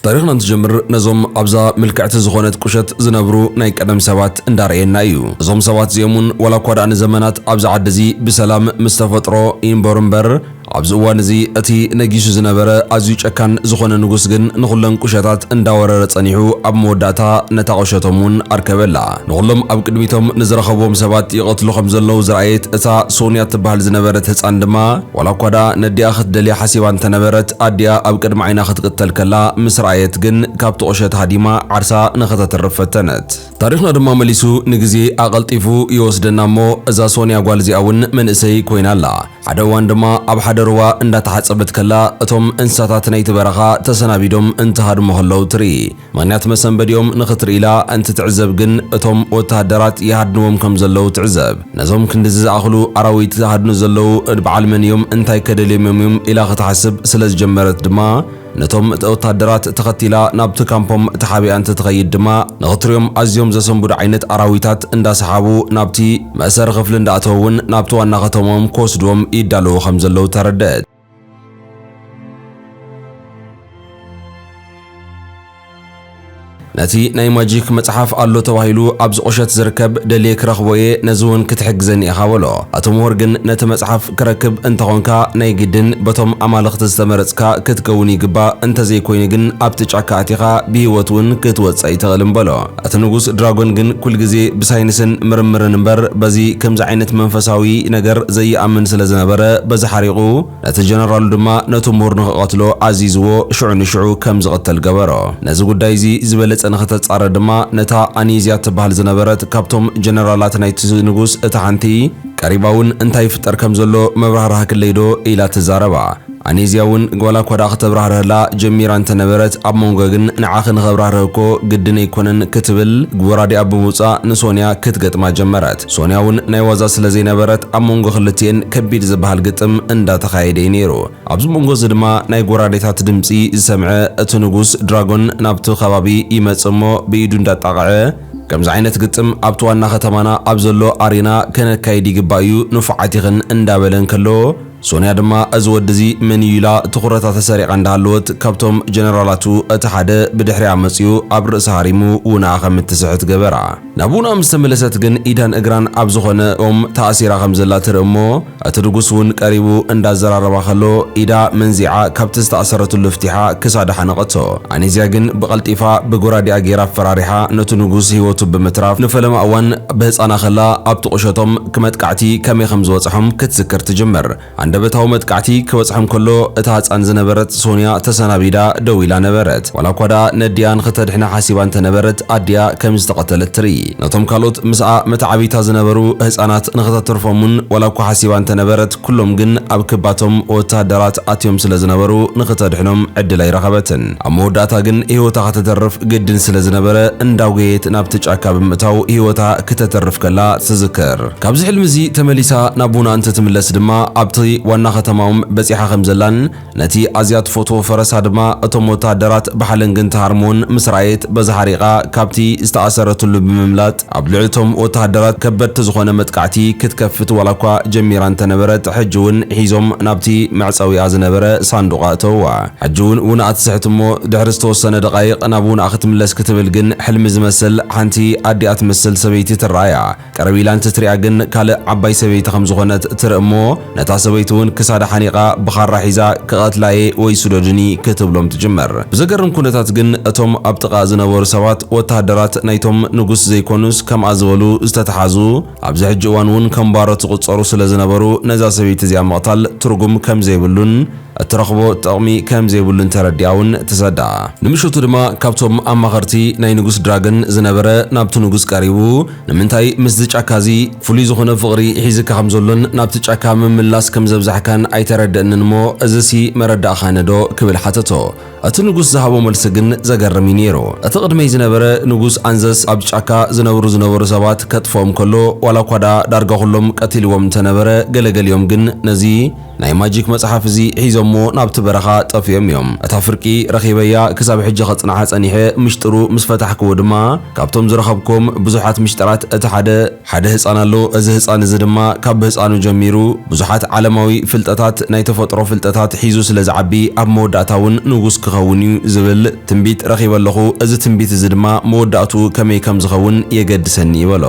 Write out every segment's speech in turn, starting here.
ታሪኽና እንትጀምር ነዞም ኣብዛ ምልክዕቲ ዝኾነት ቁሸት ዝነብሩ ናይ ቀደም ሰባት እንዳርኣየና እዩ። እዞም ሰባት እዚኦም እውን ዋላ እኳ ደኣ ንዘመናት ኣብዚ ዓዲ እዚ ብሰላም ምስ ተፈጥሮ ይንበሩ እምበር ኣብዚ እዋን እዚ እቲ ነጊሱ ዝነበረ ኣዝዩ ጨካን ዝኾነ ንጉስ ግን ንኹለን ቁሸታት እንዳወረረ ጸኒሑ ኣብ መወዳእታ ነታ ቁሸቶም እውን ኣርከበላ። ንኹሎም ኣብ ቅድሚቶም ንዝረኸብዎም ሰባት ይቐትሉ ከም ዘለዉ ዝረኣየት እታ ሶንያ እትበሃል ዝነበረት ህጻን ድማ ዋላ እኳ ደኣ ነዲኣ ክትደልያ ሓሲባ እንተ ነበረት፣ ኣዲኣ ኣብ ቅድሚ ዓይና ክትቅተል ከላ ምስ ረኣየት ግን ካብቲ ቁሸት ሃዲማ ዓርሳ ንኸተትርፍ ፈተነት። ታሪኽና ድማ መሊሱ ንግዜ ኣቐልጢፉ ይወስደና እሞ እዛ ሶንያ ጓል እዚኣ እውን መንእሰይ ኮይና ኣላ። ሓደ እዋን ድማ ኣብ ሓደ ሩባ እንዳ ተሓጸበት ከላ እቶም እንስሳታት ናይቲ በረኻ ተሰናቢዶም እንትሃድሙ ከለዉ ትርኢ። ምኽንያት መሰንበዲኦም ንኽትርኢ ኢላ እንትትዕዘብ ግን እቶም ወተሃደራት ይሃድንዎም ከም ዘለዉ ትዕዘብ። ነዞም ክንድዚ ዝኣኽሉ ኣራዊት ዝሃድኑ ዘለዉ በዓል መን እዮም እንታይከ ደልዮምዮም እዮም ኢላ ክትሓስብ ስለ ዝጀመረት ድማ ነቶም ወተሃደራት ተኸቲላ ናብቲ ካምፖም ተሓቢኣ እንትትኸይድ ድማ ንኽትሪኦም ኣዝዮም ዘሰንብዱ ዓይነት ኣራዊታት እንዳሰሓቡ ናብቲ መእሰሪ ክፍሊ እንዳእተዉ እውን ናብቲ ዋና ከተምኦም ክወስድዎም ይዳለዉ ከም ዘለዉ ተረደእት። ነቲ ናይ ማጂክ መጽሓፍ ኣሎ ተባሂሉ ኣብ ዝቑሸት ዝርከብ ደልየ ክረኽቦ እየ ነዚ እውን ክትሕግዘኒ ኢኻ በሎ። ኣቶ ምሁር ግን ነቲ መጽሓፍ ክረክብ እንተኾንካ ናይ ግድን በቶም ኣማልኽቲ ዝተመረጽካ ክትከውን ይግባእ፣ እንተዘይኮይኑ ግን ኣብቲ ጫካ ኣቲኻ ብህይወት እውን ክትወጽእ ኣይትኽእልን በሎ። እቲ ንጉስ ድራጎን ግን ኩል ግዜ ብሳይንስን ምርምርን እምበር በዚ ከምዚ ዓይነት መንፈሳዊ ነገር ዘይኣምን ስለ ዝነበረ በዚ ሓሪቑ ነቲ ጀነራሉ ድማ ነቱ ምሁር ንኽቐትሎ ኣዚዝዎ ሽዑ ንሽዑ ከም ዝቕተል ገበሮ ነዚ ጉዳይ እዚ ዝበለጸ ንኽተጻረ ድማ ነታ ኣኒዝያ እትብሃል ዝነበረት ካብቶም ጀነራላት ናይቲ ንጉስ እታ ሓንቲ ቀሪባ ውን እንታይ ይፍጠር ከም ዘሎ መብራህራህክለይ ዶ ኢላ ትዛረባ ኣኔዝያ ውን ጓላኳ ድኣ ክተብራህርሀላ ጀሚራ እንተነበረት ኣብ ሞንጎ ግን ንዓኺ ንኸብራህርህ እኮ ግድን ኣይኮነን ክትብል ብወራዲኣ ብምውጻእ ንሶንያ ክትገጥማ ጀመረት። ሶንያ ውን ናይ ዋዛ ስለ ዘይነበረት ኣብ ሞንጎ ክልቲኤን ከቢድ ዝብሃል ግጥም እንዳ ተኻየደ እዩ ኔሩ። ኣብዚ ሞንጎ እዚ ድማ ናይ ጎራዴታት ድምጺ ዝሰምዐ እቲ ንጉስ ድራጎን ናብቲ ከባቢ ይመጽእ እሞ ብኢዱ እንዳ ኣጣቕዐ፣ ከምዚ ዓይነት ግጥም ኣብቲ ዋና ከተማና ኣብ ዘሎ ኣሬና ከነካይድ ይግባእ እዩ ንፉዓት ኢኽን እንዳ በለ እንከሎ፣ ሶንያ ድማ እዚ ወዲ እዚ መን እዩ ኢላ ትኹረታ ተሰሪቓ እንዳሃለወት ካብቶም ጀነራላቱ እቲ ሓደ ብድሕሪኣ መጺኡ ኣብ ርእሳ ሃሪሙ ውንኣ ከም እትስሕት ገበራ። ናብ ውንኣ ምስ ተመለሰት ግን ኢዳን እግራን ኣብ ዝኾነ ኦም ተኣሲራ ከም ዘላ ትርኢ እሞ እቲ ንጉስ እውን ቀሪቡ እንዳዘራረባ ከሎ ኢዳ መንዚዓ ካብቲ ዝተኣሰረትሉ ፍቲሓ ክሳዳ ሓነቐቶ። ኣኔዝያ ግን ብቐልጢፋ ብጎራዴኣ ገይራ ኣፈራሪሓ ነቱ ንጉስ ህይወቱ ብምትራፍ ንፈለማ እዋን ብህጻና ከላ ኣብቲ ቁሸቶም እቲ መጥቃዕቲ ከመይ ከም ዝበጽሖም ክትዝክር ትጅምር። ሃንደበታዊ መጥቃዕቲ ክበጽሖም ከሎ፣ እታ ህጻን ዝነበረት ሶንያ ተሰናቢዳ ደው ኢላ ነበረት። ዋላኳ ደኣ ነዲኣ ንኽተድሕና ሓሲባ እንተ ነበረት፣ ኣዲኣ ከም ዝተቐተለት ትርኢ። ነቶም ካልኦት ምስኣ መተዓብይታ ዝነበሩ ህጻናት ንኽተትርፎም እውን ዋላኳ ሓሲባ እንተ ነበረት፣ ኩሎም ግን ኣብ ክባቶም ወተሃደራት ኣትዮም ስለ ዝነበሩ ንኽተድሕኖም ዕድል ኣይረኸበትን። ኣብ መወዳእታ ግን ህይወታ ከተተርፍ ግድን ስለ ዝነበረ እንዳጎየየት ናብቲ ጫካ ብምእታው ህይወታ ክተተርፍ ከላ ትዝክር። ካብዚ ሕልሚ'ዚ ተመሊሳ ናብ ቡና እንትትምለስ ድማ ኣብቲ ዋና ከተማኦም በጺሓ ከም ዘላን፣ ነቲ ኣዝያ ትፈትዎ ፈረሳ ድማ እቶም ወተሃደራት ብሓለንግን ትሃርሞን ምስ ረኣየት በዚ ሓሪቓ ካብቲ ዝተኣሰረትሉ ብምምላጥ ኣብ ልዕሊ'ቶም ወተሃደራት ከበድቲ ዝኾነ መጥቃዕቲ ክትከፍት ዋላኳ ጀሚራ እንተነበረት ሕጂ'ውን ሒዞም ናብቲ መዕጸዊኣ ዝነበረ ሳንዱቕ ኣእተውዋ። ሕጂ'ውን ውናኣ ትስሕት'ሞ ድሕሪ ዝተወሰነ ደቓይቕ ናብ ውናኣ ክትምለስ ክትብል ግን ሕልሚ ዝመስል ሓንቲ ኣዲኣ ትመስል ሰበይቲ ትረኣያ። ቅርብ ኢላ እንትትሪኣ ግን ካልእ ዓባይ ሰበይቲ ከም ዝኾነት ትርኢ እሞ ነታ ሰበይቲ እውን ክሳዳ ሓኒቓ ብኻራ ሒዛ ክቐትላ እየ ወይ ስዶድኒ ክትብሎም ትጅምር። ብዘገርም ኩነታት ግን እቶም ኣብ ጥቓኣ ዝነበሩ ሰባት ወተሃደራት ናይቶም ንጉስ ዘይኮኑስ ከምኣ ዝበሉ ዝተትሓዙ ኣብዚ ሕጂ እዋን እውን ከም ባሮት ዝቑፀሩ ስለ ዝነበሩ ነዛ ሰበይቲ እዚኣ ምቕታል ትርጉም ከም ዘይብሉን እትረኽቦ ጥቕሚ ከም ዘይብሉ እንተረዲኣ እውን ትሰዳ። ንምሽቱ ድማ ካብቶም ኣማኸርቲ ናይ ንጉስ ድራገን ዝነበረ ናብቲ ንጉስ ቀሪቡ ንምንታይ ምስዚ ጫካ እዚ ፍሉይ ዝኾነ ፍቕሪ ሒዝካ ከም ዘሎን ናብቲ ጫካ ምምላስ ከም ዘብዛሕካን ኣይተረደእንን እሞ እዝሲ መረዳእኻነዶ ክብል ሓተቶ። እቲ ንጉስ ዝሃቦ መልሲ ግን ዘገርም እዩ ነይሩ። እቲ ቅድመይ ዝነበረ ንጉስ ኣንዘስ ኣብ ጫካ ዝነብሩ ዝነበሩ ሰባት ከጥፍኦም ከሎ ዋላ እኳ ደኣ ዳርጋ ኩሎም ቀቲልዎም እንተነበረ ገለ ገሊኦም ግን ነዚ ናይ ማጂክ መጽሓፍ እዚ ሒዞሞ ናብቲ በረኻ ጠፊኦም እዮም። እታ ፍርቂ ረኺበያ ክሳብ ሕጂ ከጽንዓ ጸኒሐ ምሽጥሩ ምስ ፈታሕክዎ ድማ ካብቶም ዝረኸብክዎም ብዙሓት ምሽጥራት እቲ ሓደ፣ ሓደ ህጻን ኣሎ እዚ ህጻን እዚ ድማ ካብ ብህጻኑ ጀሚሩ ብዙሓት ዓለማዊ ፍልጠታት ናይ ተፈጥሮ ፍልጠታት ሒዙ ስለ ዝዓቢ ኣብ መወዳእታ ውን ንጉስ ክኸውን እዩ ዝብል ትንቢት ረኺበ ኣለኹ እዚ ትንቢት እዚ ድማ መወዳእትኡ ከመይ ከም ዝኸውን የገድሰኒ እዩ በሎ።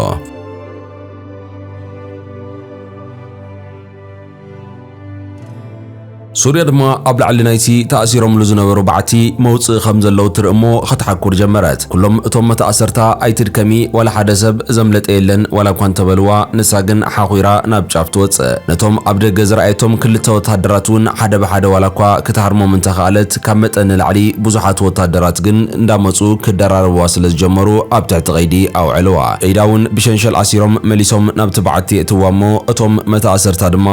ሱርያ ድማ ኣብ ላዕሊ ናይቲ ተኣሲሮምሉ ዝነበሩ በዓቲ መውጽኢ ከም ዘለዉ ትርኢ እሞ ኸትሓኩር ጀመረት። ኩሎም እቶም መታእሰርታ ኣይትድከሚ ዋላ ሓደ ሰብ ዘምለጠ የለን ዋላ እኳ እንተበልዋ ንሳ ግን ሓዂራ ናብ ጫፍ ትወጽእ። ነቶም ኣብ ደገ ዝረኣየቶም ክልተ ወተሃደራት እውን ሓደ ብሓደ ዋላ እኳ ክትሃርሞም እንተኸኣለት፣ ካብ መጠን ንላዕሊ ብዙሓት ወታደራት ግን እንዳመጹ ክደራረብዋ ስለ ዝጀመሩ ኣብ ትሕቲ ቀይዲ ኣውዐልዋ። ኢዳ ውን ብሸንሸል ኣሲሮም መሊሶም ናብቲ በዓቲ የእትዋ እሞ እቶም መተኣሰርታ ድማ፣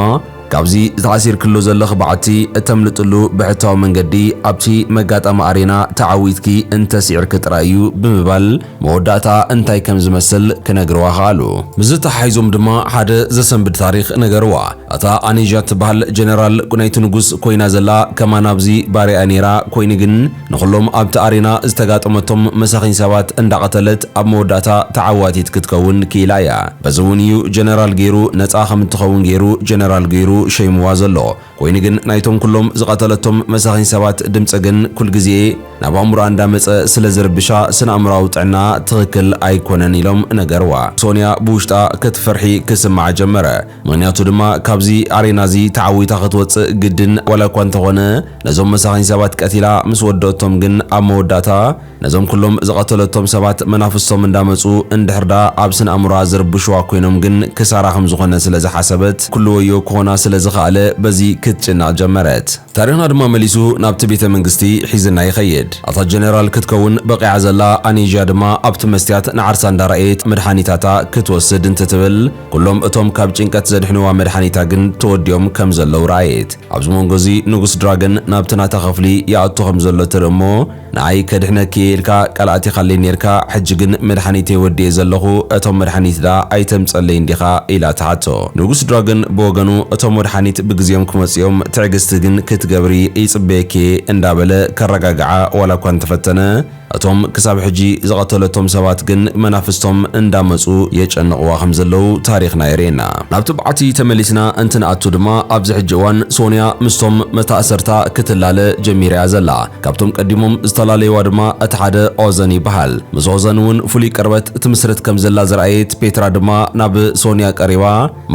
ካብዚ ተኣሲርክሉ ዘለኺ በዓቲ እተምልጥሉ ብሕታዊ መንገዲ ኣብቲ መጋጣሚ ኣሬና ተዓዊትኪ እንተሲዕርኪ ጥራይ እዩ ብምባል፣ መወዳእታኣ እንታይ ከም ዝመስል ክነግርዋ ከኣሉ። ምስዚ ተሓሒዞም ድማ ሓደ ዘሰንብድ ታሪኽ ነገርዋ። ኣታ ኣኒዣ እትበሃል ጀነራል ናይቲ ንጉስ ኮይና ዘላ ከማን ኣብዚ ባርያ'ያ ነይራ፣ ኮይኑ ግን ንኹሎም ኣብቲ ኣሬና ዝተጋጠመቶም መሳኺን ሰባት እንዳቐተለት ኣብ መወዳእታ ተዓዋቲት ክትከውን ክኢላ'ያ። በዚ'ውን እዩ ጀነራል ገይሩ ነጻ ከም እትኸውን ገይሩ ጀነራል ገይሩ ሸይምዋ ዘሎ። ኮይኑ ግን ናይቶም ኩሎም ዝቐተለቶም መሳኺን ሰባት ድምጺ ግን ኩልግዜ ናብ ኣእምሮኣ እንዳመጸ ስለ ዝርብሻ ስነኣእምሮኣዊ ጥዕናኣ ትኽክል ኣይኮነን ኢሎም ነገርዋ። ሶንያ ብውሽጣ ክትፈርሒ ክስምዓ ጀመረ። ምኽንያቱ ድማ ካብዚ ኣሬና እዚ ተዓዊታ ክትወጽእ ግድን ዋላኳ እንተኾነ ነዞም መሳኺን ሰባት ቀቲላ ምስ ወደኦቶም ግን ኣብ መወዳእታ ነዞም ኩሎም ዝቐተለቶም ሰባት መናፍስቶም እንዳመጹ እንድሕር ድኣ ኣብ ስነ ኣእምሮኣ ዝርብሹዋ ኮይኖም ግን ክሳራ ከም ዝኾነ ስለ ዝሓሰበት ኩሉ ወዮ ክኾና ስለ ዝኸኣለ በዚ ክትጭነቕ ጀመረት። ታሪኽና ድማ መሊሱ ናብቲ ቤተ መንግስቲ ሒዝና ይኸይድ። ኣታ ጀነራል ክትከውን በቒዓ ዘላ ኣኔዥያ ድማ ኣብቲ መስትያት ንዓርሳ እንዳረኣየት መድሓኒታታ ክትወስድ እንትትብል ኩሎም እቶም ካብ ጭንቀት ዘድሕንዋ መድሓኒታ ግን ተወዲኦም ከም ዘለዉ ረኣየት። ኣብዚ መንጎ እዚ ንጉስ ድራገን ናብቲ ናታ ክፍሊ ይኣቱ ከም ዘሎ ትርኢ እሞ ንኣይ ከድሕነኪ እየ ኢልካ ቃል ኣቲኻለይ ኔርካ ሕጂ ግን መድሓኒተይ ወዲኤ ዘለኹ እቶም መድሓኒት ድኣ ኣይተምጸለይ እንዲኻ ኢላ ትሓቶ ንጉስ ድራግን ብወገኑ እቶም ወድሓኒት ብግዝየም ክመጹ እዮም ትዕግስቲ ግን ክትገብሪ ይጽበየኪ እየ እንዳበለ ከረጋግዓ ዋላ እኳ እንተፈተነ እቶም ክሳብ ሕጂ ዝቐተለቶም ሰባት ግን መናፍስቶም እንዳመጹ የጨንቕዋ ከም ዘለዉ ታሪኽና የርእየና። ናብ ትብዓቲ ተመሊስና እንትንኣቱ ድማ ኣብዚ ሕጂ እዋን ሶንያ ምስቶም መታእሰርታ ክትላለ ጀሚራ እያ ዘላ። ካብቶም ቀዲሞም ዝተላለዩዋ ድማ እቲ ሓደ ኦዘን ይበሃል። ምስ ኦዘን እውን ፍሉይ ቅርበት ትምስርት ከም ዘላ ዝረኣየት ፔትራ ድማ ናብ ሶንያ ቀሪባ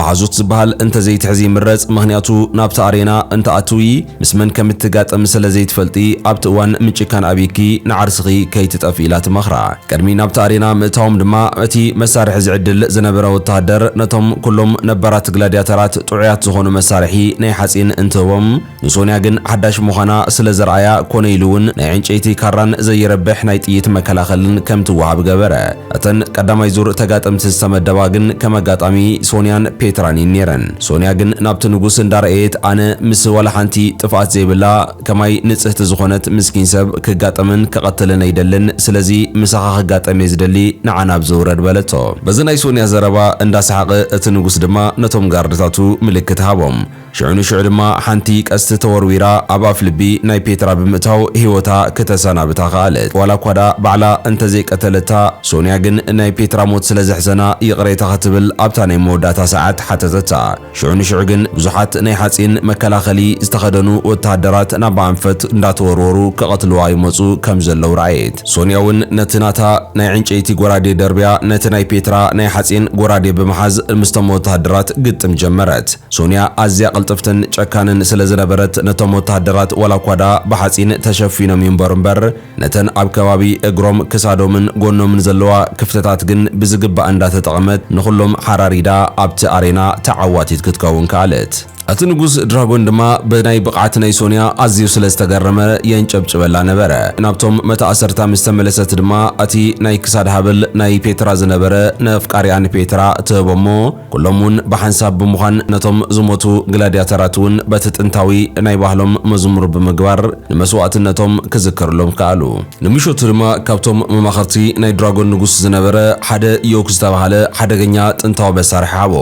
መሓዙት ዝበሃል እንተዘይትሕዚ ይምረጽ ምኽንያቱ ናብቲ ኣሬና እንተኣትዊ ምስ መን ከም እትጋጠሚ ስለ ዘይትፈልጢ ኣብቲ እዋን ምጭካን ኣብይኪ ንዓርስኺ ከይትጠፍኢ ኢላ ትመኽራ። ቅድሚ ናብቲ ኣሬና ምእታዎም ድማ እቲ መሳርሒ ዝዕድል ዝነበረ ወተሃደር ነቶም ኩሎም ነባራት ግላድያተራት ጥዑያት ዝኾኑ መሳርሒ ናይ ሓጺን እንትህቦም፣ ንሶንያ ግን ሓዳሽ ምዃና ስለ ዘርኣያ ኮነ ኢሉ እውን ናይ ዕንጨይቲ ካራን ዘይረብሕ ናይ ጥይት መከላኸልን ከም ትወሃብ ገበረ። እተን ቀዳማይ ዙር ተጋጠምቲ ዝተመደባ ግን ከም ኣጋጣሚ ሶንያን ፔትራን እየን ነይረን። ሶንያ ግን ናብቲ ንጉስ እንዳረኣየት ኣነ ምስ ዋላ ሓንቲ ጥፍኣት ዘይብላ ከማይ ንጽህቲ ዝኾነት ምስኪን ሰብ ክጋጠምን ክቐትልን ኣይደልን ስለዚ ምሳኻ ክጋጠም እየ ዝደሊ ንዓ ናብዚ ውረድ በለቶ። በዚ ናይ ሶንያ ዘረባ እንዳሰሓቐ እቲ ንጉስ ድማ ነቶም ጋርድታቱ ምልክት ሃቦም። ሽዑ ንሽዑ ድማ ሓንቲ ቀስቲ ተወርዊራ ኣብ ኣፍልቢ ናይ ፔትራ ብምእታው ህይወታ ክተሰናብታ ከኣለት። ዋላ እኳ ደኣ ባዕላ እንተ ዘይቀተለታ፣ ሶንያ ግን ናይ ፔትራ ሞት ስለ ዘሕዘና ይቕሬታ ክትብል ኣብታ ናይ መወዳእታ ሰዓት ሓተተታ። ሽዑ ንሽዑ ግን ብዙሓት ናይ ሓጺን መከላኸሊ ዝተኸደኑ ወተሃደራት ናባ ኣንፈት እንዳተወርወሩ ክቐትልዋ ይመጹ ከም ዘለዉ ረኣየት። ሶንያ እውን ነቲ ናታ ናይ ዕንጨይቲ ጎራዴ ደርብያ ነቲ ናይ ፔትራ ናይ ሓጺን ጎራዴ ብምሓዝ ምስቶም ወተሃደራት ግጥም ጀመረት። ሶንያ ኣዝያ ቅልጥፍትን ጨካንን ስለ ዝነበረት ነቶም ወተሃደራት ዋላኳ ደኣ ብሓጺን ተሸፊኖም ይንበሩ እምበር ነተን ኣብ ከባቢ እግሮም፣ ክሳዶምን ጎኖምን ዘለዋ ክፍተታት ግን ብዝግባእ እንዳተጠቐመት ንኹሎም ሓራሪዳ ኣብቲ ኣሬና ተዓዋቲት ክትከውን ከኣለት። እቲ ንጉስ ድራጎን ድማ ብናይ ብቕዓት ናይ ሶንያ ኣዝዩ ስለ ዝተገረመ የንጨብጭበላ ነበረ። ናብቶም መተኣሰርታ ምስ ተመለሰት ድማ እቲ ናይ ክሳድ ሃብል ናይ ፔትራ ዝነበረ ነፍቃሪኣ ንፔትራ ትህቦ እሞ፣ ኩሎም'ውን ብሓንሳብ ብምዃን ነቶም ዝሞቱ ግላድያተራት'ውን በቲ ጥንታዊ ናይ ባህሎም መዝሙር ብምግባር ንመስዋእትነቶም ክዝከርሎም ከኣሉ። ንምሸቱ ድማ ካብቶም መማኽርቲ ናይ ድራጎን ንጉስ ዝነበረ ሓደ ዮክ ዝተባህለ ሓደገኛ ጥንታዊ መሳርሒ ሃቦ።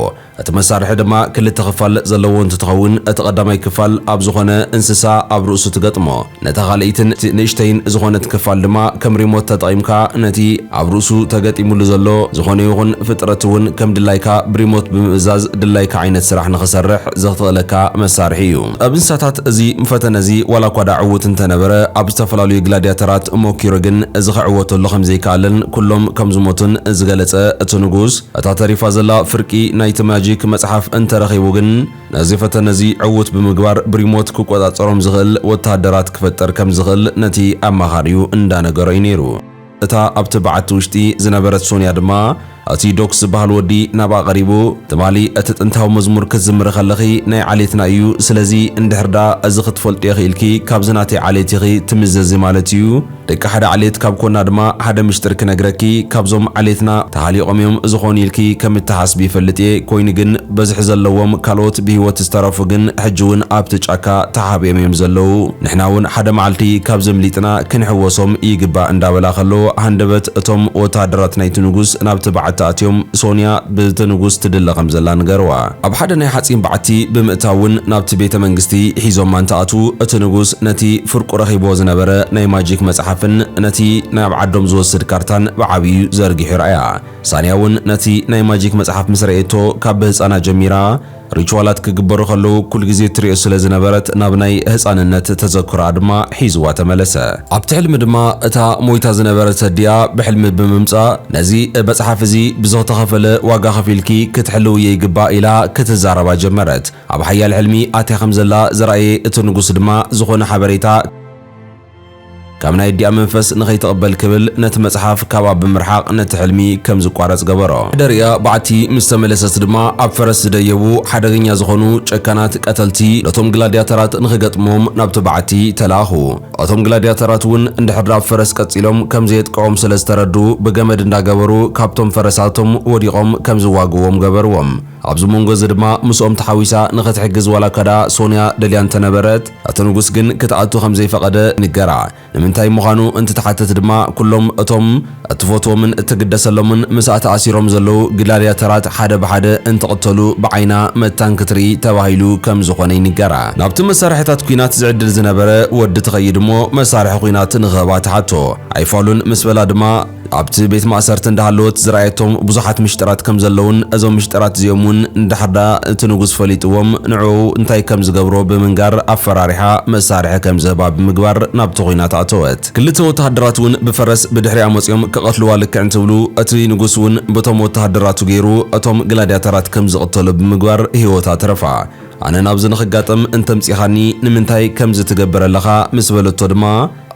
እቲ መሳርሒ ድማ ክልተ ክፋል ዘለዎ እንትትኸውን እቲ ቀዳማይ ክፋል ኣብ ዝኾነ እንስሳ ኣብ ርእሱ ትገጥሞ። ነታ ካልኣይትን ንእሽተይን ዝኾነት ክፋል ድማ ከም ሪሞት ተጠቒምካ ነቲ ኣብ ርእሱ ተገጢሙሉ ዘሎ ዝኾነ ይኹን ፍጥረት እውን ከም ድላይካ ብሪሞት ብምእዛዝ ድላይካ ዓይነት ስራሕ ንኽሰርሕ ዘኽትኽእለካ መሳርሒ እዩ። ኣብ እንስሳታት እዚ ፈተነ እዚ ዋላ እኳ ደኣ ዕዉት እንተነበረ ኣብ ዝተፈላለዩ ግላድያተራት ሞኪሩ ግን እዚ ክዕወተሉ ከም ዘይከኣለን ኩሎም ከም ዝሞቱን ዝገለጸ እቲ ንጉስ እታ ተሪፋ ዘላ ፍርቂ ናይቲ ማጂክ መጽሓፍ እንተረኺቡ ግን ነዚ ፈተነ እዚ ዕዉት ብምግባር ብሪሞት ክቆጻጸሮም ዝኽእል ወተሃደራት ክፈጥር ከም ዝኽእል ነቲ ኣማኻሪኡ እንዳ ነገሮ እዩ ነይሩ። እታ ኣብቲ በዓቲ ውሽጢ ዝነበረት ሶንያ ድማ እቲ ዶክስ ዝበሃል ወዲ ናብኣ ቀሪቡ ትማሊ እቲ ጥንታዊ መዝሙር ክትዝምሪ ከለኺ ናይ ዓሌትና እዩ ስለዚ እንድሕር ደኣ እዚ ክትፈልጥዮ ኪኢልኪ ካብዚ ናተይ ዓሌት ኢኺ ትምዘዚ ማለት እዩ ደቂ ሓደ ዓሌት ካብ ኮና ድማ ሓደ ምሽጥር ክነግረኪ ካብዞም ዓሌትና ተሃሊቆም እዮም ዝኾኑ ኢልኪ ከም እትሓስቢ ይፈልጥ እየ ኮይኑ ግን በዝሒ ዘለዎም ካልኦት ብሂወት ዝተረፉ ግን ሕጂ እውን ኣብቲ ጫካ ተሓቢኦም እዮም ዘለዉ ንሕና እውን ሓደ መዓልቲ ካብዚ ኣምሊጥና ክንሕወሶም ይግባእ እንዳበላ ከሎ ሃንደበት እቶም ወተሃደራት ናይቲ ንጉስ ናብቲ በዓቲ ኣትዮም ሶንያ ብቲ ንጉስ ትድለ ከም ዘላ ንገርዋ ኣብ ሓደ ናይ ሓጺን በዓቲ ብምእታውን ናብቲ ቤተ መንግስቲ ሒዞማ እንትኣትዉ እቲ ንጉስ ነቲ ፍርቁ ረኺብዎ ዝነበረ ናይ ማጂክ መጽሓፍን ነቲ ናብ ዓዶም ዝወስድ ካርታን ብዓብዩ ዘርጊሑ ረኣያ። ሳንያ እውን ነቲ ናይ ማጂክ መጽሓፍ ምስ ረኤቶ ካብ ብህጻና ጀሚራ ሪቹዋላት ክግበሩ ከለዉ ኩል ግዜ እትሪኦ ስለ ዝነበረት ናብ ናይ ህጻንነት ተዘክሮኣ ድማ ሒዝዋ ተመለሰ። ኣብቲ ሕልሚ ድማ እታ ሞይታ ዝነበረት ኣዲኣ ብሕልሚ ብምምጻእ፣ ነዚ መጽሓፍ እዚ ብዝተኸፈለ ዋጋ ከፊልኪ ክትሕልውዮ ይግባእ ኢላ ክትዛረባ ጀመረት። ኣብ ሓያል ሕልሚ ኣትያ ከም ዘላ ዘርኣየ እቲ ንጉስ ድማ ዝኾነ ሓበሬታ ካብ ናይ ኣዲኣ መንፈስ ንኸይትቕበል ክብል ነቲ መጽሓፍ ካብኣ ብምርሓቕ ነቲ ሕልሚ ከም ዝቋረጽ ገበሮ። ሕደር'ያ በዓቲ ምስ ተመለሰት ድማ ኣብ ፈረስ ዝደየቡ ሓደገኛ ዝኾኑ ጨካናት ቀተልቲ ነቶም ግላድያተራት ንኽገጥምዎም ናብቲ በዓቲ ተላእኹ። እቶም ግላድያተራት እውን እንድሕር ኣብ ፈረስ ቀጺሎም ከም ዘየጥቅዖም ስለ ዝተረድኡ ብገመድ እንዳገበሩ ካብቶም ፈረሳቶም ወዲቖም ከም ዝዋግእዎም ገበርዎም። ኣብዚ መንጎ እዚ ድማ ምስኦም ተሓዊሳ ንኽትሕግዝ ዋላ እኳ ደኣ ሶንያ ደልያ እንተ ነበረት እቲ ንጉስ ግን ክትኣቱ ከም ዘይፈቐደ ይንገራ። ንምንታይ ምዃኑ እንትትሓትት ድማ ኩሎም እቶም እትፈትዎምን እትግደሰሎምን ምስኣ ተኣሲሮም ዘለዉ ግላድያተራት ሓደ ብሓደ እንትቕተሉ ብዓይና መታን ክትርኢ ተባሂሉ ከም ዝኾነ ይንገራ። ናብቲ መሳርሒታት ኲናት ዝዕድል ዝነበረ ወዲ ትኸይድ እሞ መሳርሒ ኲናት ንኽህባ ትሓቶ። ኣይፋሉን ምስ በላ ድማ ኣብቲ ቤት ማእሰርቲ እንዳሃለወት ዝረኣየቶም ብዙሓት ምሽጥራት ከም ዘለዉን እዞም ምሽጥራት እዚኦም እውን እንድሕር ደኣ እቲ ንጉስ ፈሊጥዎም ንዕኡ እንታይ ከም ዝገብሮ ብምንጋር ኣፈራሪሓ መሳርሒ ከም ዝህባ ብምግባር ናብቲ ዂናት ኣእተወት። ክልተ ወተሃደራት እውን ብፈረስ ብድሕሪኣ መጺኦም ክቐትልዋ ልክዕ እንትብሉ፣ እቲ ንጉስ እውን በቶም ወተሃደራቱ ገይሩ እቶም ግላድያተራት ከም ዝቕተሉ ብምግባር ህይወታ ተረፋ። ኣነ ናብዚ ንኽጋጠም እንተምጺኻኒ ንምንታይ ከምዚ ትገብር ኣለኻ? ምስ በለቶ ድማ፣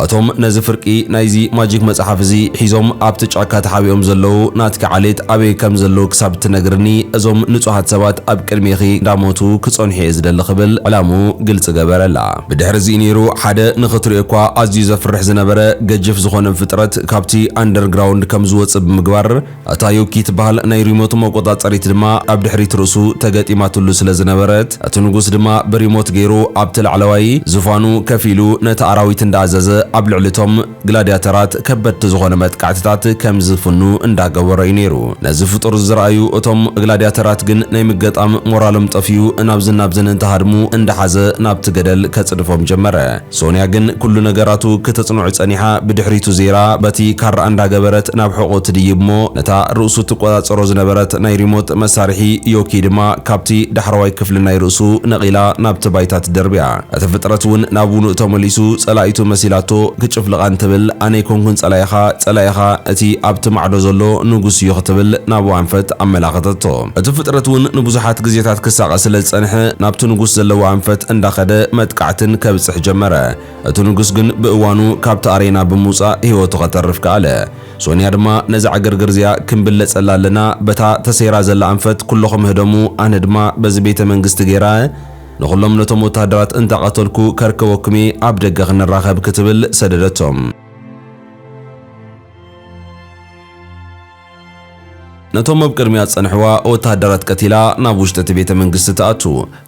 እቶም ነዚ ፍርቂ ናይዚ ማጂክ መጽሓፍ እዚ ሒዞም ኣብቲ ጫካ ተሓቢኦም ዘለዉ ናትኪ ዓሌት ኣበይ ከም ዘለዉ ክሳብ እትነግርኒ እዞም ንጹሃት ሰባት ኣብ ቅድሜኺ እንዳሞቱ ክጸንሑ እየ ዝደሊ ክብል ዕላምኡ ግልጺ ገበረላ። ብድሕርዚ ነይሩ ሓደ ንኽትሪኦ'ኳ ኣዝዩ ዘፍርሕ ዝነበረ ገጅፍ ዝኾነ ፍጥረት ካብቲ ኣንደርግራውንድ ከም ዝወጽእ ብምግባር እታ ዮኪ ትበሃል ናይ ሪሞት መቆጻጸሪት ድማ ኣብ ድሕሪት ርእሱ ተገጢማትሉ ስለ ዝነበረት እቲ ንጉስ ድማ ብሪሞት ገይሩ ኣብቲ ላዕለዋይ ዝፋኑ ከፍ ኢሉ ነቲ ኣራዊት እንዳኣዘዘ ኣብ ልዕሊ'ቶም ግላድያተራት ከበድቲ ዝኾነ መጥቃዕትታት ከም ዝፍኑ እንዳገበሮ እዩ ነይሩ። ነዚ ፍጡር ዝረኣዩ እቶም ግላድያተራት ግን ናይ ምገጣም ሞራሎም ጠፊኡ ናብዝን ናብዝን እንትሃድሙ እንዳሓዘ ናብቲ ገደል ከጽድፎም ጀመረ። ሶንያ ግን ኩሉ ነገራቱ ክተጽንዑ ጸኒሓ ብድሕሪቱ ዜራ በቲ ካራ እንዳገበረት ናብ ሕቖኡ ትድይብ'ሞ ነታ ርእሱ ትቆጻጸሮ ዝነበረት ናይ ሪሞት መሳርሒ ዮኪ ድማ ካብቲ ዳሕረዋይ ክፍሊ ናይ ርእሱ ነቒላ ናብቲ ባይታ ትደርብያ። እቲ ፍጥረት እውን ናብ ውኑእ ተመሊሱ ጸላኢቱ መሲላቶ ክጭፍልቓ እንትብል ኣነ ኣይኮንኩን ጸላኢኻ ጸላኢኻ እቲ ኣብቲ ማዕዶ ዘሎ ንጉስ እዩ ክትብል ናብኡ ኣንፈት ኣመላኸተቶ። እቲ ፍጥረት እውን ንብዙሓት ግዜታት ክሳቐ ስለ ዝጸንሐ ናብቲ ንጉስ ዘለዎ ኣንፈት እንዳኸደ መጥቃዕትን ከብጽሕ ጀመረ። እቲ ንጉስ ግን ብእዋኑ ካብቲ ኣሬና ብምውጻእ ህይወቱ ከተርፍ ከኣለ። ሶንያ ድማ ነዛ ዕግርግር እዚኣ ክንብለጸላ ኣለና በታ ተሰይራ ዘላ ኣንፈት ኩሎኹም ህደሙ ኣነ ድማ በዚ ቤተ መንግስቲ ገይራ ንኹሎም ነቶም ወተሃደራት እንዳቐተልኩ ከርከበኩም'የ፣ ኣብ ደገ ክንራኸብ ክትብል ሰደደቶም። ነቶም ኣብ ቅድሚኣ ዝጸንሕዋ ወተሃደራት ቀቲላ ናብ ውሽጢ እቲ ቤተ መንግስቲ ትኣቱ።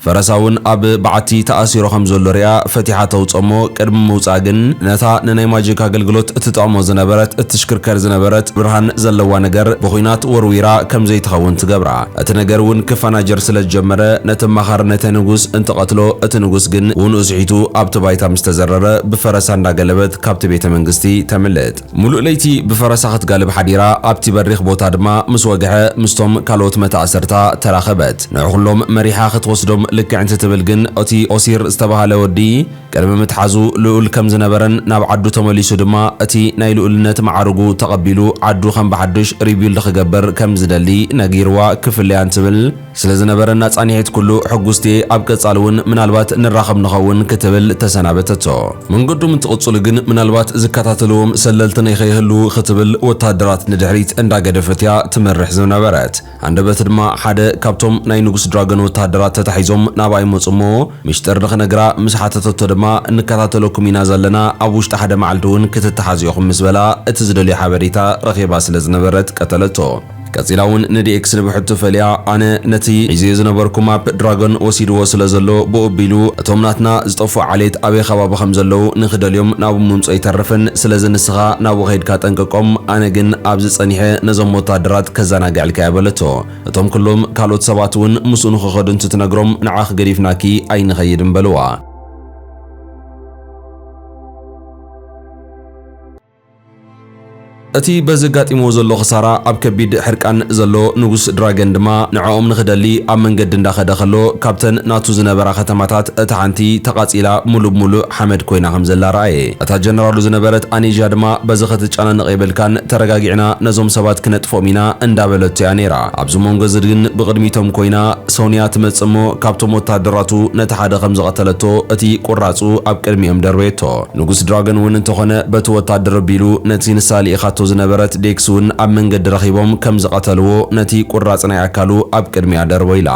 ፈረሳ እውን ኣብ በዓቲ ተኣሲሩ ከም ዘሎ ሪኣ ፈቲሓ ተውጽኦ'ሞ ቅድሚ ምውጽኣ ግን ነታ ንናይ ማጂክ ኣገልግሎት እትጠቕሞ ዝነበረት እትሽክርከር ዝነበረት ብርሃን ዘለዋ ነገር ብኹናት ወርዊራ ከም ዘይትኸውን ትገብራ። እቲ ነገር እውን ክፋናጀር ስለ ዝጀመረ ነቲ ኣማኻሪ ነተ ንጉስ እንትቐትሎ እቲ ንጉስ ግን ውንኡ ስሒቱ ኣብቲ ባይታ ምስ ተዘረረ ብፈረሳ እንዳገለበት ካብቲ ቤተ መንግስቲ ተምልጥ። ሙሉእ ለይቲ ብፈረሳ ክትጋልብ ሓዲራ ኣብቲ በሪኽ ቦታ ድማ ምስ ወግሐ ምስቶም ካልኦት መታእሰርታ ተራኸበት። ንዕኹሎም መሪሓ ክትወስዶም ልክዕ እንትትብል ግን እቲ ኦሲር ዝተባህለ ወዲ፣ ቅድሚ ምትሓዙ ልኡል ከም ዝነበረን ናብ ዓዱ ተመሊሱ ድማ እቲ ናይ ልኡልነት መዓርጉ ተቐቢሉ ዓዱ ከም ብሓዱሽ ሪቢውልድ ክገብር ከም ዝደሊ ነጊርዋ ክፍለያን ትብል። ስለ ዝነበረና ፃኒሒት ኩሉ ሕጉስቲ'የ፣ ኣብ ቀፃሊ እውን ምናልባት ንራኸብ ንኸውን ክትብል ተሰናበተቶ። መንገዶም እንትቕፅሉ ግን ምናልባት ዝከታተልዎም ሰለልቲ ነይከይህልዉ ክትብል ወታደራት ንድሕሪት እንዳገደፈት'ያ ትመርሕ ዝነበረት። ሃንደበት ድማ ሓደ ካብቶም ናይ ንጉስ ድራገን ወተሃደራት ተታሒዞም ናብኣ ይመጹ እሞ ምሽጥር ንኽነግራ ምስ ሓተተቶ ድማ እንከታተለኩም ኢና ዘለና ኣብ ውሽጢ ሓደ መዓልዲ እውን ክትተሓዙ ኢኹም ምስ በላ እቲ ዝደልዮ ሓበሬታ ረኺባ ስለ ዝነበረት ቀተለቶ። ቀጺላ እውን ንዲኤክስ ንብሕቱ ፈልያ ኣነ ነቲ ሒዘዮ ዝነበርኩ ማፕ ድራገን ወሲድዎ ስለ ዘሎ ብኡ ኣቢሉ እቶም ናትና ዝጠፍኡ ዓሌት ኣበይ ኸባቢ ከም ዘለዉ ንኽደልዮም ናብኡ ምምጽኦ ይተርፍን ስለዚ ንስኻ ናብኡ ከይድካ ጠንቅቆም ኣነ ግን ኣብዚ ጸኒሐ ነዞም ወታደራት ከዘናግዕልካ እየ በለቶ እቶም ኩሎም ካልኦት ሰባት ውን ምስኡ ንኽኸዱ እንትትነግሮም ንዓኺ ገዲፍናኪ ኣይንኸይድን በልዋ። እቲ በዚ ኣጋጢምዎ ዘሎ ክሳራ ኣብ ከቢድ ሕርቃን ዘሎ ንጉስ ድራገን ድማ ንዕኦም ንኽደሊ ኣብ መንገዲ እንዳኸደ ከሎ ካብተን ናቱ ዝነበራ ከተማታት እታ ሓንቲ ተቓጺላ ሙሉእ ብሙሉእ ሓመድ ኮይና ከም ዘላ ረኣየ። እታ ጀነራሉ ዝነበረት ኣኔዥያ ድማ በዚ ክትጨናነቕ የብልካን ተረጋጊዕና ነዞም ሰባት ክነጥፍኦም ኢና እንዳበለቶ እያ ነይራ። ኣብዚ ሞንጎ እዚ ግን ብቕድሚቶም ኮይና ሶንያ ትመጽእ እሞ ካብቶም ወታሃደራቱ ነቲ ሓደ ከም ዝቐተለቶ እቲ ቁራጹ ኣብ ቅድሚኦም ደርበየቶ። ንጉስ ድራገን እውን እንተኾነ በቲ ወታደር ኣቢሉ ነቲ ንሳ ልኢኻቶ ዝነበረት ዴክስ እውን ኣብ መንገዲ ረኺቦም ከም ዝቐተልዎ ነቲ ቁራጽ ናይ ኣካሉ ኣብ ቅድሚኣ ደርቦ ኢላ።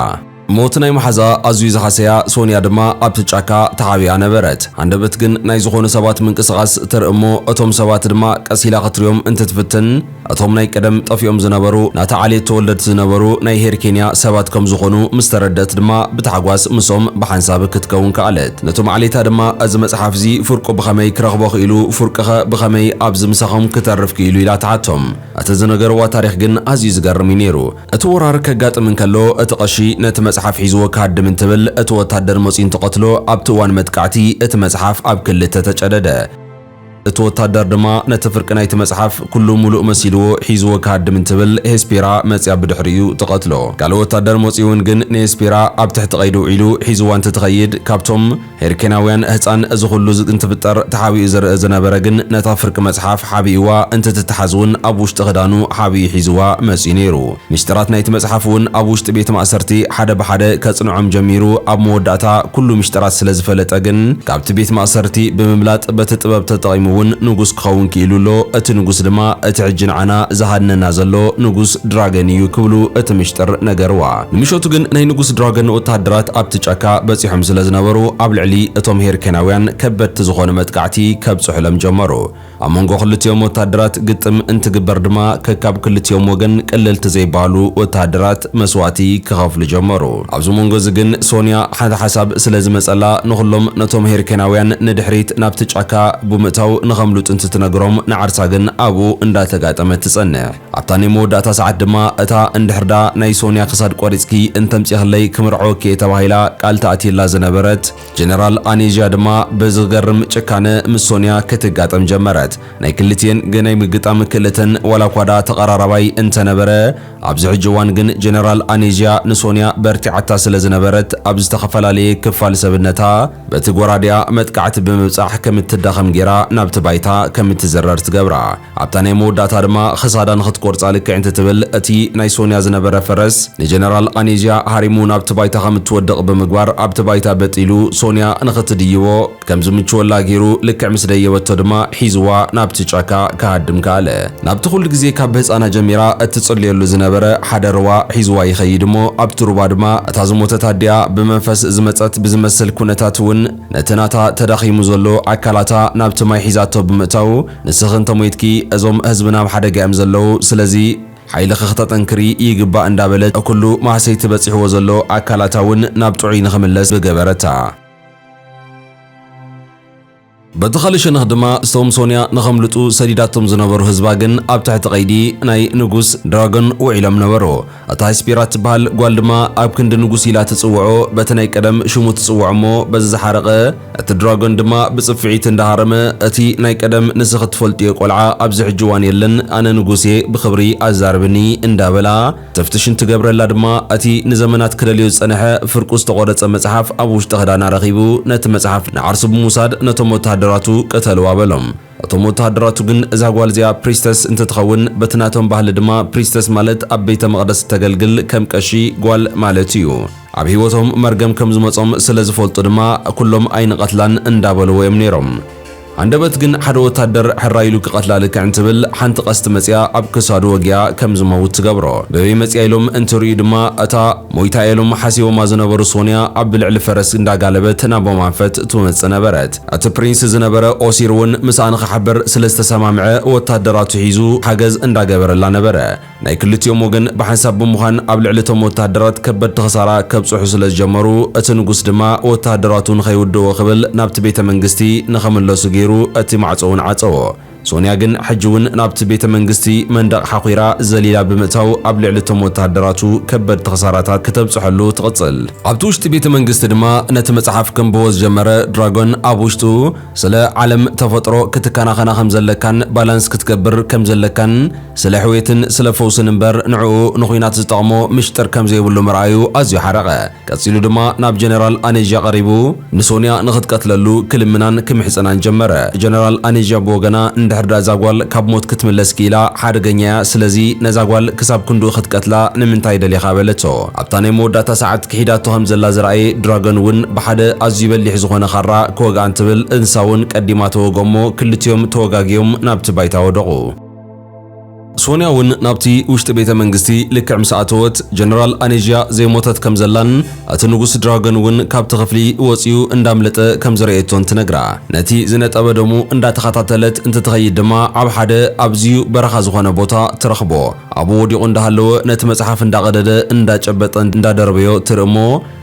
ሞት ናይ መሓዝኣ ኣዝዩ ዝሃሰያ ሶንያ ድማ ኣብቲ ጫካ ተሓቢኣ ነበረት። ሃንደበት ግን ናይ ዝኾኑ ሰባት ምንቅስቓስ ትርኢ እሞ እቶም ሰባት ድማ ቀስ ኢላ ክትሪኦም እንትትፍትን፣ እቶም ናይ ቀደም ጠፊኦም ዝነበሩ ናታ ዓሌት ተወለድቲ ዝነበሩ ናይ ሄር ኬንያ ሰባት ከም ዝኾኑ ምስ ተረድእት ድማ ብታሕጓስ ምስኦም ብሓንሳብ ክትከውን ከኣለት። ነቶም ዓሌታ ድማ እዚ መጽሓፍ እዚ ፍርቁ ብኸመይ ክረኽቦ ክኢሉ ፍርቅኸ ብኸመይ ኣብዚ ምሳኹም ክተርፍ ክኢሉ ኢላ ትሓቶም። እቲ ዝነገርዋ ታሪኽ ግን ኣዝዩ ዝገርም እዩ ነይሩ። እቲ ወራር ከጋጥም እንከሎ እቲ ቀሺ ነቲ መጽሓፍ ሒዝዎ ክሃድም እንትብል እቲ ወታደር መጺኡ እንትቐትሎ ኣብቲ እዋን መጥቃዕቲ እቲ መጽሓፍ ኣብ ክልተ ተጨደደ። እቲ ወታደር ድማ ነቲ ፍርቂ ናይቲ መጽሓፍ ኩሉ ሙሉእ መሲልዎ ሒዝዎ ክሃድም እንትብል ሄስፔራ መጺኣ ብድሕሪኡ ትቐትሎ። ካልእ ወታደር መጺኡውን ግን ንሄስፔራ ኣብ ትሕቲ ቀይዲ ውዒሉ ሒዝዋ እንትትኸይድ ካብቶም ሄርኬናውያን ህጻን እዚ ኩሉ እንትፍጠር ተሓቢኡ ዝርእ ዝነበረ ግን ነታ ፍርቂ መጽሓፍ ሓቢእዋ እንትትትሓዝውን ኣብ ውሽጢ ክዳኑ ሓቢኡ ሒዝዋ መጺኡ ነይሩ። ምስጢራት ናይቲ መጽሓፍ እውን ኣብ ውሽጢ ቤት ማእሰርቲ ሓደ ብሓደ ከጽንዖም ጀሚሩ፣ ኣብ መወዳእታ ኩሉ ምስጢራት ስለ ዝፈለጠ ግን ካብቲ ቤት ማእሰርቲ ብምምላጥ በቲ ጥበብ ተጠቒሙ እውን ንጉስ ክኸውን ክኢሉ ኣሎ፣ እቲ ንጉስ ድማ እቲ ሕጂ ንዓና ዝሃድነና ዘሎ ንጉስ ድራገን እዩ ክብሉ እቲ ምስጢር ነገርዋ። ንምሸቱ ግን ናይ ንጉስ ድራገን ወተሃደራት ኣብቲ ጫካ በጺሖም ስለ ዝነበሩ ኣብ ልዕሊ እቶም ሄርኬናውያን ከበድቲ ዝኾኑ መጥቃዕቲ ከብጽሑሎም ጀመሩ። ኣብ መንጎ ክልቲኦም ወተሃደራት ግጥም እንትግበር ድማ ከካብ ክልቲኦም ወገን ቀለልቲ ዘይበሃሉ ወተሃደራት መስዋእቲ ክኸፍሉ ጀመሩ። ኣብዚ መንጎ እዚ ግን ሶንያ ሓንቲ ሓሳብ ስለ ዝመጸላ ንኹሎም ነቶም ሄርኬናውያን ንድሕሪት ናብቲ ጫካ ቡምእታው ንኸምልጡ እንትትነግሮም ንዓርሳ ግን ኣብኡ እንዳተጋጠመት ትጸንሕ። ኣብታ ናይ መወዳእታ ሰዓት ድማ እታ እንድሕርዳ ናይ ሶንያ ክሳድ ቆሪጽኪ እንተምጺኽለይ ክምርዐወኪ'የ ተባሂላ ቃል ተኣትየላ ዝነበረት ጀነራል ኣኔዥያ ድማ ብዝገርም ጭካነ ምስ ሶንያ ክትጋጠም ጀመረት። ናይ ክልቲኤን ግናይ ምግጣም ክእለተን ዋላኳ ድኣ ተቐራራባይ እንተነበረ፣ ኣብዚ ሕጂ እዋን ግን ጀነራል ኣኔዥያ ንሶንያ በርቲዓታ ስለ ዝነበረት ኣብ ዝተኸፈላለየ ክፋል ሰብነታ በቲ ጎራዴኣ መጥቃዕቲ ብምብጻሕ ከም እትዳኸም ጌራ ናብቲ ባይታ ከም እትዝረር ትገብራ። ኣብታ ናይ መወዳእታ ድማ ኽሳዳ ንኽትቆርጻ ልክዕ እንትትብል እቲ ናይ ሶንያ ዝነበረ ፈረስ ንጀነራል ቓኔዝያ ሃሪሙ ናብቲ ባይታ ከም እትወድቕ ብምግባር ኣብቲ ባይታ በጥ ኢሉ ሶንያ ንኽትድይቦ ከም ዝምችወላ ገይሩ ልክዕ ምስ ደየበቶ ድማ ሒዝዋ ናብቲ ጫካ ክሃድም ከኣለ። ናብቲ ኹሉ ግዜ ካብ ብህጻና ጀሚራ እትጽልየሉ ዝነበረ ሓደ ሩባ ሒዝዋ ይኸይድ እሞ ኣብቲ ሩባ ድማ እታ ዝሞተት ኣዲኣ ብመንፈስ ዝመጸት ብዝመስል ኩነታት እውን ነቲ ናታ ተዳኺሙ ዘሎ ኣካላታ ናብቲ ማይ ሒዛቶ ብምእታዉ ንስኺ እንተሞይትኪ እዞም ህዝብና ኣብ ሓደጋ እዮም ዘለዉ ስለዚ ሓይልኺ ክተጠንክሪ ይግባእ እንዳበለት ኩሉ ማህሰይቲ በጺሕዎ ዘሎ ኣካላታ እውን ናብ ጥዑይ ንኽምለስ ብገበረታ። በቲ ኻልእ ሸነኽ ድማ እቶም ሶንያ ንኸምልጡ ሰዲዳቶም ዝነበሩ ህዝባ ግን ኣብ ትሕቲ ቀይዲ ናይ ንጉስ ድራጎን ውዒሎም ነበሩ። እታ ህስጲራ እትበሃል ጓል ድማ ኣብ ክንዲ ንጉስ ኢላ ትጽውዖ በቲ ናይ ቀደም ሽሙ ትጽውዖ እሞ በዚ ዝሓረቐ እቲ ድራጎን ድማ ብጽፍዒት እንዳ ሃረመ እቲ ናይ ቀደም ንስኺ እትፈልጥዮ ቆልዓ ኣብዚ ሕጂ እዋን የለን ኣነ ንጉስ እየ ብኽብሪ ኣዛርብኒ እንዳ በላ ተፍትሽ እንትገብረላ ድማ እቲ ንዘመናት ክደልዮ ዝጸነሐ ፍርቁ ዝተቖረጸ መጽሓፍ ኣብ ውሽጢ ክዳና ረኺቡ ነቲ መጽሓፍ ንዓርሱ ብምውሳድ ነቶም ወተሃደራቱ ቅተልዋ በሎም። እቶም ወተሃደራቱ ግን እዛ ጓል እዚኣ ፕሪስተስ እንትትኸውን በቲ ናቶም ባህሊ ድማ ፕሪስተስ ማለት ኣብ ቤተ መቕደስ እተገልግል ከም ቀሺ ጓል ማለት እዩ። ኣብ ህይወቶም መርገም ከም ዝመጾም ስለ ዝፈልጡ ድማ ኩሎም ኣይንቐትላን እንዳበልዎ እዮም ነይሮም። ሃንደበት ግን ሓደ ወታደር ሕራይ ኢሉ ክቐትላ ልክዕ እንትብል ሓንቲ ቀስቲ መጺኣ ኣብ ክሳዱ ወጊኣ ከም ዝመውት ትገብሮ። በበይ መጺኣ ኢሎም እንትርእዩ ድማ እታ ሞይታ እያ ኢሎም ሓሲቦማ ዝነበሩ ሶንያ ኣብ ልዕሊ ፈረስ እንዳጋለበት ናቦም ኣንፈት ትመጽእ ነበረት። እቲ ፕሪንስ ዝነበረ ኦሲር እውን ምስኣ ንኽሓብር ስለ ዝተሰማምዐ ወታደራቱ ሒዙ ሓገዝ እንዳገበረላ ነበረ። ናይ ክልቲኦም ወገን ብሓንሳብ ብምዃን ኣብ ልዕሊ እቶም ወታደራት ከበድቲ ክሳራ ከብጽሑ ስለ ዝጀመሩ እቲ ንጉስ ድማ ወታደራቱ ንኸይውድእዎ ክብል ናብቲ ቤተ መንግስቲ ንኽምለሱ ገይሩ እቲ ማዕጾ እውን ዓጸዎ። ሶንያ ግን ሕጂ እውን ናብቲ ቤተ መንግስቲ መንደቕ ሓዂራ ዘሊላ ብምእታው ኣብ ልዕሊ እቶም ወተሃደራቱ ከበድቲ ክሳራታት ክተብጽሐሉ ትቕጽል። ኣብቲ ውሽጢ ቤተ መንግስቲ ድማ ነቲ መጽሓፍ ከንብቦ ዝጀመረ ድራጎን ኣብ ውሽጡ ስለ ዓለም ተፈጥሮ ክትከናኸና ከም ዘለካን ባላንስ ክትገብር ከም ዘለካን ስለ ሕውየትን ስለ ፈውስን እምበር ንዕኡ ንዂናት ዝጠቕሞ ምሽጥር ከም ዘይብሉ ምርኣዩ ኣዝዩ ሓረቐ። ቀጺሉ ድማ ናብ ጀነራል ኣኔዥያ ቀሪቡ ንሶንያ ንኽትቀትለሉ ክልምናን ክምሕጸናን ጀመረ። ጀነራል ኣኔዥያ ብወገና እንድሕር ድኣ እዛ ጓል ካብ ሞት ክትምለስ ክኢላ ሓደገኛ እያ ስለዚ ነዛ ጓል ክሳብ ክንድኡ ክትቀትላ ንምንታይ ደሊኻ በለቶ። ኣብታ ናይ መወዳእታ ሰዓት ክሒዳቶ ከም ዘላ ዝረኣየ ድራገን እውን ብሓደ ኣዝዩ በሊሕ ዝኾነ ካራ ክወግኣ እንትብል እንስሳ እውን ቀዲማ ተወግኦ እሞ ክልቲኦም ተወጋጊዮም ናብቲ ባይታ ወደቑ። ሶንያ እውን ናብቲ ውሽጢ ቤተ መንግስቲ ልክዕ ምስ ኣተወት ጀነራል ኣኔዥያ ዘይሞተት ከም ዘላን እቲ ንጉስ ድራገን እውን ካብቲ ክፍሊ ወጺኡ እንዳምለጠ ከም ዝረኤቶን ትነግራ። ነቲ ዝነጠበ ደሙ እንዳተኸታተለት እንትትኸይድ ድማ ኣብ ሓደ ኣዚዩ በረኻ ዝኾነ ቦታ ትረኽቦ። ኣብኡ ወዲቑ እንዳሃለወ ነቲ መጽሓፍ እንዳቐደደ እንዳጨበጠ እንዳደርበዮ ትርኢ እሞ፣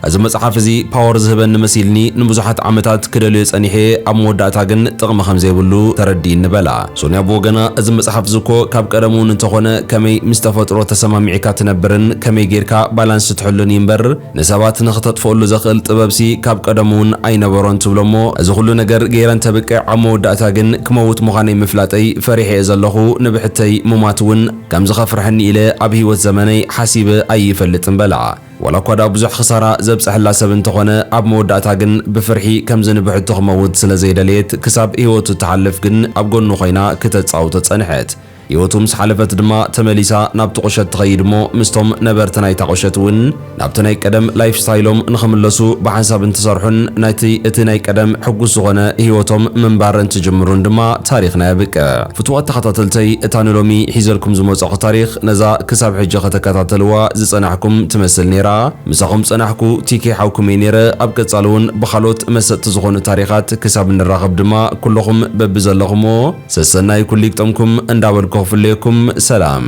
እዚ መጽሓፍ እዚ ፓወር ዝህበኒ መሲልኒ ንብዙሓት ዓመታት ክደልዮ ጸኒሐ እየ ኣብ መወዳእታ ግን ጥቕሚ ከም ዘይብሉ ተረዲእኒ በላ። ሶንያ ብወገና እዚ መጽሓፍ እዚ እኮ ካብ ቀደሙ እውን እንተኾነ ከመይ ምስ ተፈጥሮ ተሰማሚዕካ ትነብርን ከመይ ጌርካ ባላንስ ትሕሉን እዩ እምበር ንሰባት ንኽተጥፍኣሉ ዘኽእል ጥበብሲ ካብ ቀደሙ እውን ኣይነበሮን ትብሎ እሞ እዚ ኹሉ ነገር ገይረ እንተብቅዕ ኣብ መወዳእታ ግን ክመውት ምዃነይ ምፍላጠይ ፈሪሐ እየ ዘለኹ ንብሕተይ ምሟት እውን ከም ዝኸፍርሐኒ ኢለ ኣብ ህይወት ዘመነይ ሓሲበ ኣይፈልጥን በላ። ዋላ እኳ ድኣ ብዙሕ ክሳራ ዘብጸሐላ ሰብ እንተኾነ ኣብ መወዳእታ ግን ብፍርሒ ከምዚ ንብሕቱ ክመውት ስለ ዘይደለየት ክሳብ ህይወቱ እትሓልፍ ግን ኣብ ጎኑ ኮይና ክተጻውቶ ጸንሐት። ህይወቱ ምስ ሓለፈት ድማ ተመሊሳ ናብቲ ቁሸት ትኸይድ እሞ ምስቶም ነበርቲ ናይታ ቁሸት እውን ናብቲ ናይ ቀደም ላይፍ ስታይሎም ንኽምለሱ ብሓንሳብ እንትሰርሑን ናይቲ እቲ ናይ ቀደም ሕጉስ ዝኾነ ህይወቶም ምንባር እንትጅምሩን ድማ ታሪኽና የብቅዕ። ፍቱዋት ተኸታተልተይ እታ ንሎሚ ሒዘልኩም ዝመጻኹ ታሪኽ ነዛ ክሳብ ሕጂ ከተከታተልዋ ዝጸናሕኩም ትመስል ኔራ ምሳኹም ጸናሕኩ ቲኬ ሓውኩም'የ ኔረ ኣብ ቀጻሊ ውን ብኻልኦት መሰጥቲ ዝኾኑ ታሪኻት ክሳብ ንራኸብ ድማ ኩሉኹም በብዘለኹሞ ሰሰናዩ ኩሉ ይግጠምኩም እንዳበልኩ ክፍለየኩም ሰላም